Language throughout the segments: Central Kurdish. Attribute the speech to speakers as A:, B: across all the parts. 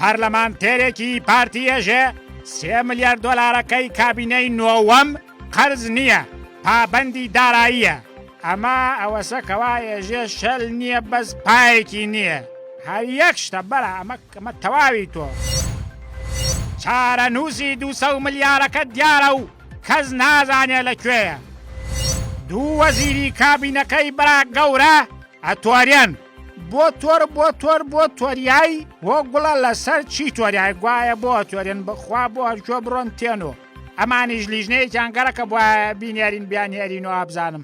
A: پەرلەمانتێرێکی پارتی یەژێ سێ ملیار دۆلارەکەی کابینەی نۆوەم قەرز نییە پابەندی داراییە ئەمە ئەوەسە کەوا ێژێ شەل نییە بەس پایەکی نییە هەر یەک شتە بەرە ئەمە ئەمە تەواوی تۆ چارە نووسی دو ملیارەکە دیارە و کەس نازانێ لە کوێیە. دوو وەزیری کابینەکەی برا گەورە ئەتۆرێن. بۆ تۆر بۆ تۆر بۆ تۆریای بۆ گوڵە لەسەر چی تۆریای گوایە بۆ تۆرێن بخوا بۆ هەرکوێ بڕۆن تێنۆ ئەمانیش لیژنەیەکیان گەڕەکە بۆە بینێرین بیانهێرین و ئابزانم.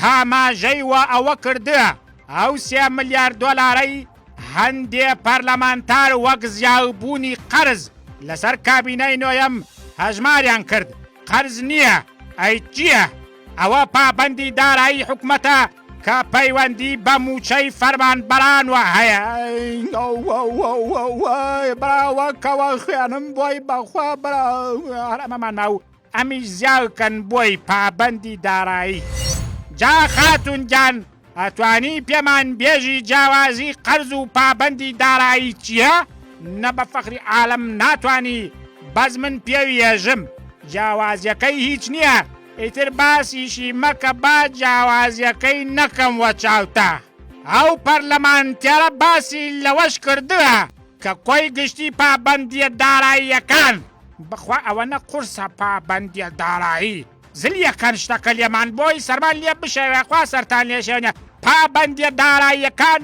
A: هاماژەی وە ئەوە کردوە، ئەو سێ ملیار دۆلارەی هەندێ پەرلەمانتار وەک زیاوبوونی قەرز لەسەر کابینەی نۆیەم هەژماریان کرد، قەرز نییە، ئەی چییە؟ ئەوە پابەندی دارایی حکومەتە کە پەیوەندی بە مووچەی فەرمانبەرانوە هەیە. ئەمیش زیاو کەن بۆی پابەندی دارایی. جا خاتون گیان ئەتوانی پێمان بێژی جیاوازی قەرز و پابەندی دارایی چیە؟ نە بە فەخری عالەم ناتوانی بەس من پێوی ئێژم جیاوازیەکەی هیچ نیە ئیتر باسیشی مەکە با جیاوازیەکەی نەکەم وە چاوتا ئەو پەرلەمانتێرە باسی لەوەش کردوە کە کۆی گشتی پابەندیە داراییەکان. بەخوا ئەوەنە قورسە پابەندیە دارایی زلیەکەن شتەکە لێمان بۆی سەرمان لێ بشێوێ خوا سەرتان لێ شێنێ پابەندیە داراییەکان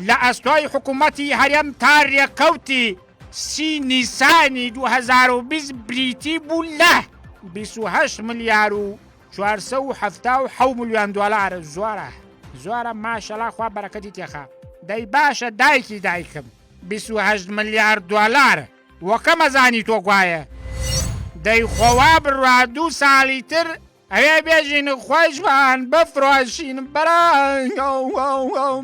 A: لە ئەستۆی حکومەتی هەرێم تا رێکەوتی سی نیسانی دوو هەزار و بیست بریتی بوو لە بیست و هەشت ملیار و چوار سەد و حەفتا و حەوت ملیۆن دۆلار زۆرە زۆرە ماشەڵا خوا بەرەکەتی تێخا دەی باشە دایکی دایکم بیست و هەشت ملیار دۆلار وەکەمە زانی تۆ گوایە دەی خۆوا بڕوا دوو ساڵی تر ئەوێ بێژین و خۆشمان بفرۆشین بەرا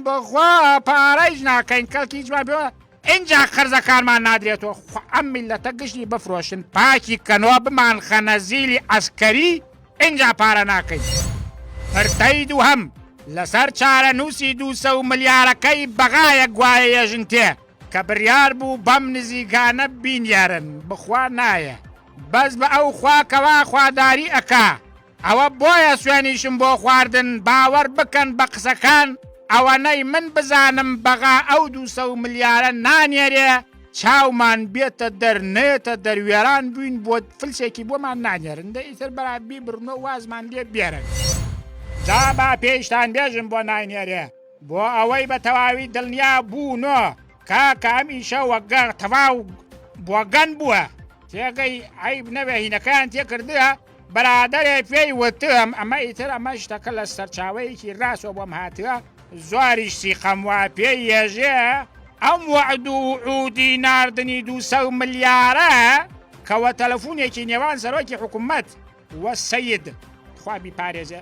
A: بەخوا پارەیش ناکەین کەڵکیشمان پێوە ئینجا قەرزەکانمان نادرێتۆ خۆ ئەم میللەتە گشنی بفرۆشن پاکی کەنۆ بمان خەنە زیلی عەسکەری ئینجا پارە ناکەین پرتەی دووهەم لەسەر چارە نووسی دوو سە و ملیارەکەی بەغایە گوایە یەژن تێ کە بریار بوو بەم نزیکانە بینیارن بخوا نایە بەس بە ئەو خوا کەوا خواداری ئەکا. ئەوە بۆیە سوێنیشم بۆ خواردن باوەڕ بکەن بە قسەکان ئەوەنەی من بزانم بەغا ئەو دوو سەو ملیارە نانێرێ چاومان بێتە دەر نێتە دەر وێران بووین بۆ فلسێکی بۆمان نانێرن دە ئیتر بەرا بیبرنەوە وازمان لێ بێرن جا با پێیشتان بێژم بۆ ناینێرێ بۆ ئەوەی بە تەواوی دڵنیا بوونۆ کاکە ئەم ئیشە وەگەڕ تەواو بۆگەن بووە تێگەی عیب نەوێ هینەکەیان تێکردە برادەرێک پێی وتم ئەمە ئیتر ئەمە شتەکە لە سەرچاوەیەکی ڕاستەوە بۆم هاتووە زۆریش سیقەم وا پێ یێژێ ئەم وەعد و عودی ناردنی دووسە و ملیارە کەوە تەلەفونێکی نێوان سەرۆکی حکومەت وە سید خوابی پارێزێ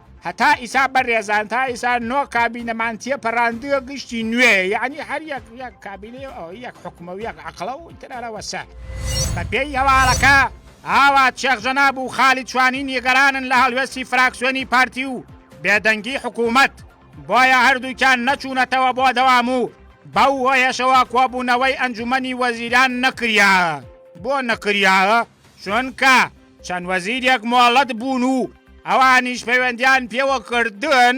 A: هەتا ئیسا بەرێزان تا ئیسا نۆ کابینەمان تێپەراندوە گشتی نوێ یعنی هەر یەک یەک کابینێ ئەو یەک حکومە و یەک عقلە و ترەرەوەسە بە پێی هەواڵەکە ئاوا چێخ جەناب و خالی چوانی نیگەرانن لە هەڵوێستی فراکسیۆنی پارتی و بێدەنگی حکوومەت بۆیە هەردووکیان نەچوونەتەوە بۆ دەوام و بەو هۆیەشەوە کۆبوونەوەی ئەنجومەنی وەزیران نەکریاە بۆ نەکریاە چونکە چەند وەزیرێک مۆڵەت بوون و ئەوانیش پەیوەندیان پێوە کردن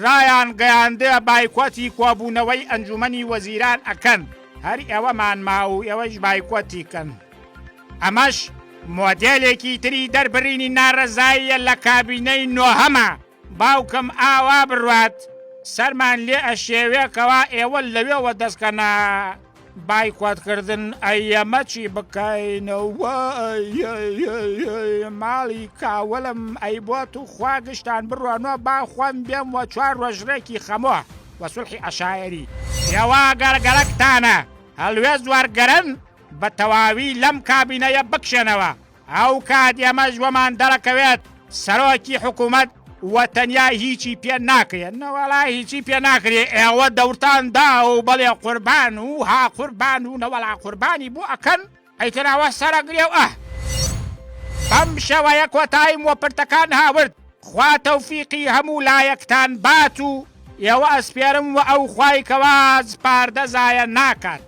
A: ڕایان گەیاندە بایکۆتی کۆبوونەوەی ئەنجومەنی وەزیران ئەکەن هەر ئێوەمان ماوو ئێوەیش بایکۆتی کەن ئەمەش مۆدێلێکی تری دەربرینی نارەزاییە لە کابینەی نۆهەمە. باوکم ئاوا بڕوات سەرمان لێ ئەشێوێ کەوا ئێوە لەوێوە دەستکەنە بایکۆتکردن ئەیەمە چی بکەینەوە ماڵی کاوەلم ئەی بۆ تو خوا گشتان بڕۆنۆ با خۆم بێم وە چوار ڕۆژرێکی خەمۆ وە سولحی عشاعری ئێوە گەرگەرەکتانە هەلوێست وەرگرن بە تەواوی لەم کابینەیە بکشێنەوە ئەو کات ئێمەش وەمان دەڕەکەوێت سەرۆکی حکوومەت و تەنیا هیچی پێ ناکرێ نەوەڵا هیچی پێ ناکرێ ئێوە دەورتان دا و بەڵێ قوربان و ها قوربان و نەوەڵا قوربانی بۆ ئەکەن ئەیتراوە سەرەگرێ و ئەه بەم شێوەیە کۆتایم وە پرتەکان هاورد خوا تەوفیقی هەموو لایەکتان بات و ئێوە ئەسپێرم و ئەو خوای کەوا سپاردە زایە ناکات.